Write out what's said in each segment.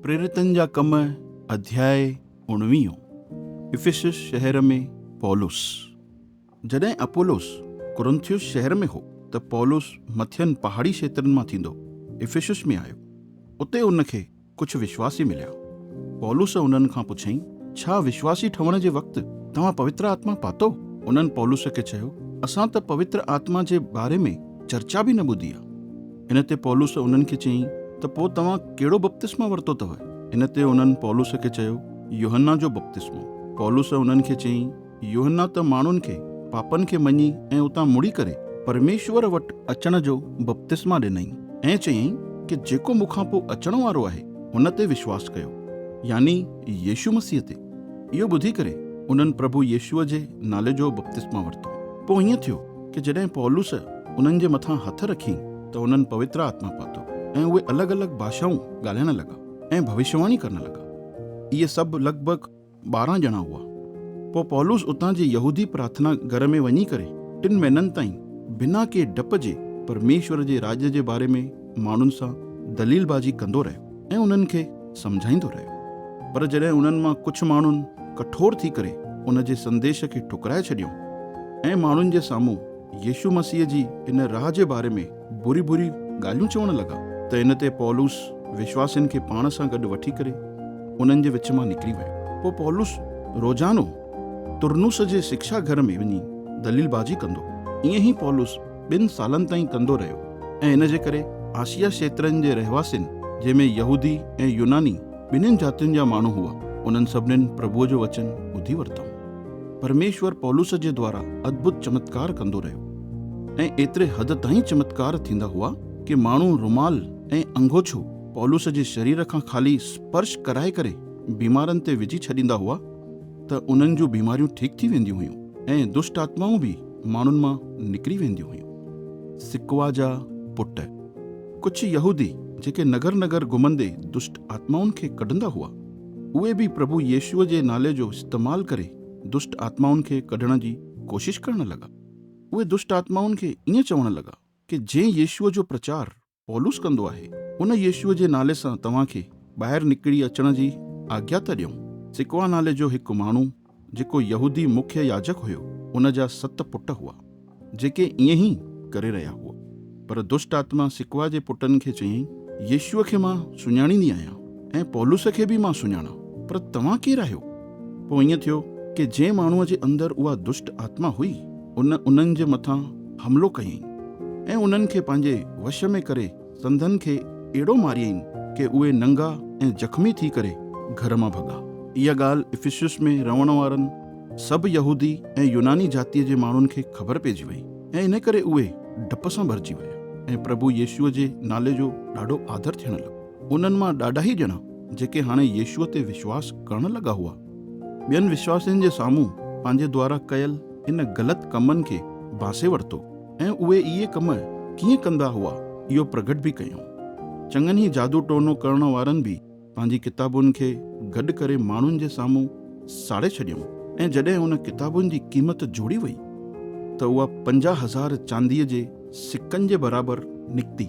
پريرتن جا ڪم اڌياء اوڻويهون افيسس شهر ۾ پولس جڏهن اپولوس ڪورنٿيوس شهر ۾ هو ته پولس مٿين پهاڙي کيترن مان ٿيندو افيسس ۾ آيو اتي هن کي ڪجهه وشواسي مليا پولس انهن کان پڇيائين ڇا وشواسي ٺهڻ جي وقت توهان پوتر آتما پاتو انهن پولس کي چيو اسان ته پوتر آتما جي باري ۾ چرچا به نه ٻڌي آهي. ان تي پولس انهن کي چيائين ته پوء توهان ڪهڙو بپتسمو ورتو اٿو؟ ان تي انهن پولس کي چيو، يوحنا جو بپتسمو. پولس انهن کي چيائين، يوحنا ته ماڻهن کي پاپن کي مڃي ۽ اتان مڙي ڪري پرميشور وٽ اچڻ جو بپتسما ڏنائين ۽ چيائين ته جيڪو مون کان پوء اچڻ وارو آهي هن تي وشواس ڪيو، يعني يسوع مسيح تي. اهو ٻڌي ڪري انهن پرڀو يسوع جي نالي جو بپتسما ورتو. پوء ائين ٿيو ته جڏهن پولس انهن جي مٿان هٿ رکيائين ته انهن پوتر آتما پاتو ۽ اهي الڳ الڳ ڀاشائون ڳالهائڻ لڳا ۽ ڀوشيواڻي ڪرڻ لڳا. اهي سڀ لڳ ڀڳ ٻارهن ڄڻا هئا. پوء پولس اتان جي يهودي پرارٿنا گهر ۾ وڃي ڪري ٽن مهينن تائين بنا ڪنهن ڊپ جي پرميشور جي راڄ جي باري ۾، ماڻهن سان دليل بازي ڪندو رهيو ۽ انهن کي سمجهائيندو رهيو پر جڏهن انهن مان ڪجهه ماڻهن ڪٺور ٿي ڪري ان جي سنديش کي ٺڪرائي ڇڏيو ۽ ماڻهن جي سامهون يسوع مسيح جي ان راهه جي باري ۾ بري بري ڳالهيون چوڻ لڳا ته ان تي پولس وشواسين کي پاڻ سان گڏ وٺي ڪري انهن جي وچ مان نڪري ويو. پوء پولس روزانو ترنوس جي سکشا گهر ۾ وڃي دليل بازي ڪندو. ائين ئي پولس ٻن سالن تائين ڪندو رهيو ۽ ان جي ڪري آسيا شيترن جي رهواسين، جنهن ۾ يهودي ۽ يوناني ٻنهين جاتين جا ماڻهو هئا، انهن سڀنين پرڀوء جو وچن ٻڌي ورتائون. پرميشور پولس جي دوارا ادڀت چمتڪار ڪندو رهيو ۽ ايتري حد تائين چمتڪار ٿيندا هئا ڪي ماڻهو رومال ۽ انگوڇو پولس جي شرير کان خالي سپرش ڪرائي ڪري بيمارن تي وجهي ڇڏيندا هئا ته انهن جون بيماريون ٺيڪ ٿي وينديون هيون ۽ دشٽ آتمائون به ماڻهن مان نڪري وينديون هيون. سڪوا جا پٽ، ڪڇ يهودي جيڪي نگر نگر گهمندي دشٽ آتمائن کي ڪڍندا هئا، اهي به پرڀو يسوع جي نالي جو استعمال ڪري دشٽ آتمائن کي ڪڍڻ جي ڪوشش ڪرڻ لڳا. اهي دشٽ آتمائن کي ائين چوڻ لڳا ڪي جنهن يسوع جو پرچار پولس ڪندو آهي، ان يسوع جي نالي سان توهان کي ٻاهر نڪري اچڻ جي آجيا ٿا ڏيون. سڪوا نالي جو هڪ ماڻهو جيڪو يهودي مکيه ياجڪ هيو، ان جا ست پٽ هئا، جيڪي ائين ئي ڪري رهيا هئا. پر دشٽ آتما سڪوا جي پٽن کي چيائين، يسوع کي مان سڃاڻيندي آهيان ۽ پولس کي به مان سڃاڻان، پر توهان ڪير آهيو؟ پوء ائين ٿيو ڪي جنهن ماڻهوء جي اندر اها دشٽ آتما هئي، ان انهن جي مٿان حملو ڪيائين ۽ انهن کي پنهنجي وش ۾ ڪري سندن کي اهڙو ماريائين ڪي اهي ننگا ۽ زخمي ٿي ڪري گهر مان ڀڳا. اها ڳالهه افسيس ۾ رهڻ وارن سڀ يهودي ۽ يوناني جاتيء جي ماڻهن کي خبر پئجي وئي ۽ انهي ڪري اهي ڊپ سان ڀرجي ويا ۽ پرڀو يسوع جي نالي جو ڏاڍو آڌر ٿيڻ لڳو. انهن مان ڏاڍاهي ڄڻا جيڪي هاڻي يسوع تي وشواس ڪرڻ لڳا هئا، ٻين وشواسين جي سامهون پنهنجي دوارا ڪيل ان غلط ڪمن کي ڀانسي ورتو ۽ اهي اهي ڪم ڪيئن ڪندا هئا اهو پرگهٽ به ڪيائون. چڱن ئي جادو ٽوڻو ڪرڻ وارن به پنهنجي ڪتابن کي گڏ ڪري ماڻهن جي سامهون ساڙي ڇڏيائون ۽ جڏهن ان ڪتابن جي قيمت جوڙي وئي ته اها پنجاهه هزار چانديء جي سڪن جي برابر نڪتي.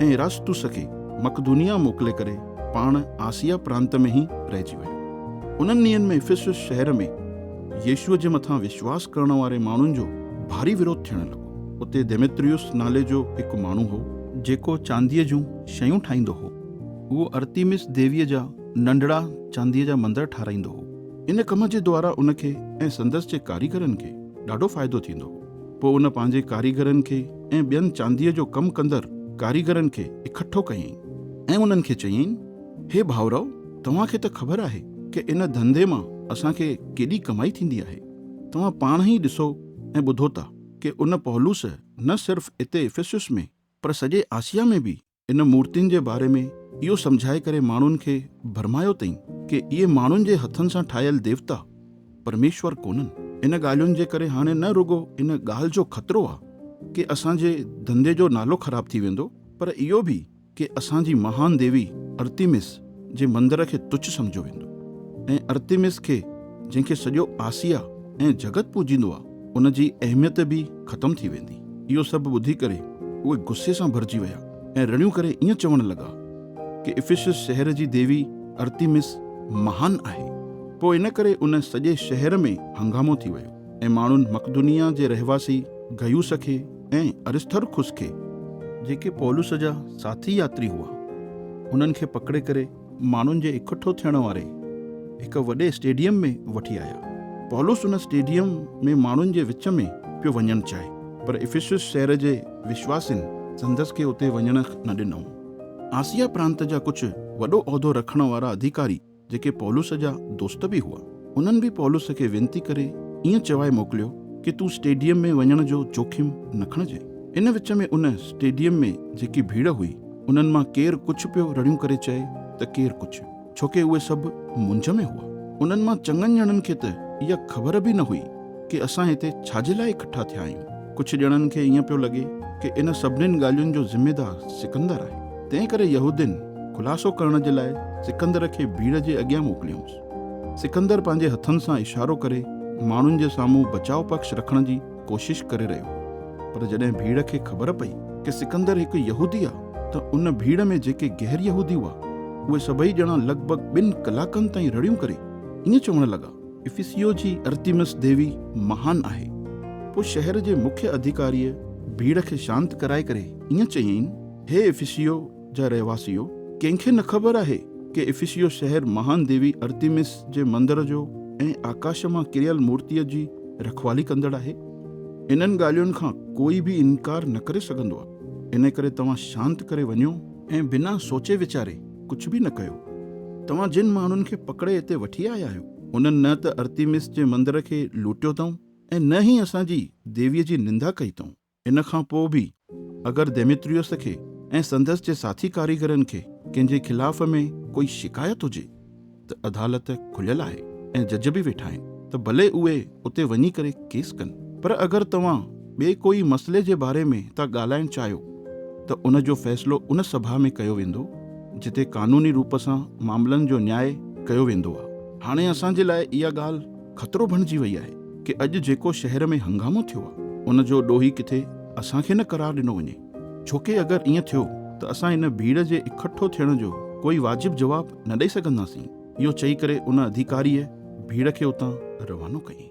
۽ اراسطوس کي مقدونيا موڪلي ڪري پاڻ آسيا پرانت ۾ ئي رهجي ويو. انهن ڏينهن ۾ افسس شهر ۾ يسوع جي مٿان وشواس ڪرڻ واري ماڻهن جو ڀاري وروڌ ٿيڻ لڳو. اتي ديمتريوس نالي جو هڪ ماڻهو هو. جيڪو چانديء جون شيون ٺاهيندو هو. اهو ارتيمس ديويء جا ننڍڙا چانديء جا مندر ٺاهرائيندو هو. ان ڪم جي دوارا ان کي ۽ سندس جي ڪاريگرن کي ڏاڍو فائدو ٿيندو هو. پوء ان پنهنجي ڪاريگرن کي ۽ ٻين چانديء جو ڪم ڪندڙ ڪاريگرن کي اڪٺو ڪيائين ۽ انهن کي چيائين، هي ڀائرؤ! توهان کي ته خبر آهي ڪه ان ڌنڌي مان اسان کي ڪيڏي ڪمائي ٿيندي آهي. توهان پاڻ ئي ڏسو ۽ ٻڌو ٿا ڪه ان پولس نه صرف اتي افسس ۾ پر سڄي آسيا ۾ به ان مورتين جي باري ۾ اهو سمجهائي ڪري ماڻهن کي ڀرمايو تئين ڪي اهي ماڻهن جي هٿن سان ٺاهيل ديوتا پرميشور ڪونهن. ان ڳالهين جي ڪري هاڻي نه رڳو ان ڳالهه جو خطرو آ ڪي اسان جي ڌنڌي جو نالو خراب ٿي ويندو پر اهو به ڪي اسان جي مهان ديوي ارتيمس، جي مندر کي تڇ سمجهيو ويندو ۽ ارتيمس کي جنهن کي سڄو آسيا ۽ جڳت پوڄيندو آ ان جي اهميت به ختم ٿي ويندي. اهو سڀ ٻڌي ڪري اهي غصي سان ڀرجي ويا ۽ رڙيون ڪري ائين چوڻ لڳا ڪي افيسس شهر جي ديوي ارتيمس مهان آهي. پوء ان ڪري ان سڄي شهر ۾ هنگامو ٿي ويو ۽ ماڻهن مڪدونيا جي رهواسي گيوس کي ۽ ارسٿرخس کي، جيڪي پولس جا ساٿي ياتري هئا، انهن کي پڪڙي ڪري ماڻهن جي اڪٺو ٿيڻ واري هڪ وڏي اسٽيڊيم ۾ وٺي آيا. پولس ان اسٽيڊيم ۾ ماڻهن جي وچ ۾ پيو وڃڻ چاهي، پر افسس شهر جي وشواسين سندس کي اتي وڃڻ نه ڏنو. آسيا پرانت جا ڪجهه وڏو عهدو رکڻ وارا اڌيڪاري جيڪي پولس جا دوست به هئا، انهن به پولس کي وينتي ڪري ائين چوائي موڪليو ڪي تون اسٽيڊيم ۾ وڃڻ جو جوکم نه کڻجئه. ان وچ ۾ ان اسٽيڊيم ۾ جيڪي ڀيڙ هئي، انهن مان ڪير ڪڇ پيو رڙيون ڪري چئي ته ڪير ڪڇ، ڇوڪي اهي سڀ منجهه ۾ هئا. انهن مان چڱن ڄڻن کي ته اها خبر به نه هئي. ڪي اسان هتي ڇا جي لاء اڪٺا ٿيا آهيون؟ ڪجهه ڄڻن کي ائين پيو لڳي ڪي ان سڀنين ڳالهين جو ذميدار سڪندر آهي. تنهن ڪري يهودين خلاصو ڪرڻ جي لاء سڪندر کي ڀيڙ جي اڳيان موڪليائونس. سڪندر پنهنجي هٿن سان اشارو ڪري ماڻهن جي سامهون بچاء پکش رکڻ جي ڪوشش ڪري رهيو هو. پر جڏهن ڀيڙ کي خبر پئي ڪي سڪندر هڪ يهودي آهي ته ان ڀيڙ ۾ جيڪي غير يهودي هئا، اهي سڀئي ڄڻا لڳ ڀڳ ٻن ڪلاڪن تائين رڙيون ڪري ائين چوڻ لڳا، افيسيو جي ارتيمس ديوي مهان آهي. پوء شهر جي مکيه اڌيڪاريء ڀيڙ کي شانت ڪرائي ڪري ائين چيائين، هي افيسيو جا رهواسيو! ڪنهن کي نه خبر آهي ڪي افيسيو شهر مهان ديوي ارتيمس جي مندر جو ۽ آڪاش مان ڪريل مورتيء جي رکوالي ڪندڙ آهي؟ انهن ڳالهين کان ڪوئي به انڪار نه ڪري سگهندو آهي. انهيء ڪري توهان شانت ڪري وڃو ۽ بنا سوچي ويچاري ڪجهه به نه ڪيو. توهان جن ماڻهن کي پڪڙي هتي وٺي آيا آهيو، انهن نه ته ارتيمس جي مندر کي لوٽيو اٿئون ۽ نه ئي اسان جي ديويء جي نندا ڪئي اٿئون. ان کان پوء به اگر ديميتريوس کي ۽ سندس جي ساٿي ڪاريگرن کي ڪنهن جي خلاف ۾ ڪوئي شڪايت هجي، ته عدالت کليل آهي ۽ جج به ويٺا آهن ته ڀلي اهي اتي وڃي ڪري ڪيس ڪن پر اگر توهان ٻئي ڪوئي مسئلي جي باري ۾ ٿا ڳالهائڻ چاهيو ته ان جو فيصلو ان سڀا ۾ ڪيو ويندو جتي قانوني روپ سان معاملن جو نياء ڪيو ويندو آهي. هاڻي اسان جي لاء اها ڳالهه خطرو بڻجي وئي آهي ڪي اڄ جيڪو شهر ۾ هنگامو ٿيو آهي ان جو ڏوهي ڪٿي اسان کي نه قرار ڏنو وڃي. ڇوڪه اگر ائين ٿيو ته اسان ان ڀيڙ جي اڪٺو ٿيڻ جو ڪوئي واجب جواب نه ڏئي سگهنداسين. اهو چئي ڪري ان اڌيڪاريء ڀيڙ کي اتان روانو ڪيائين.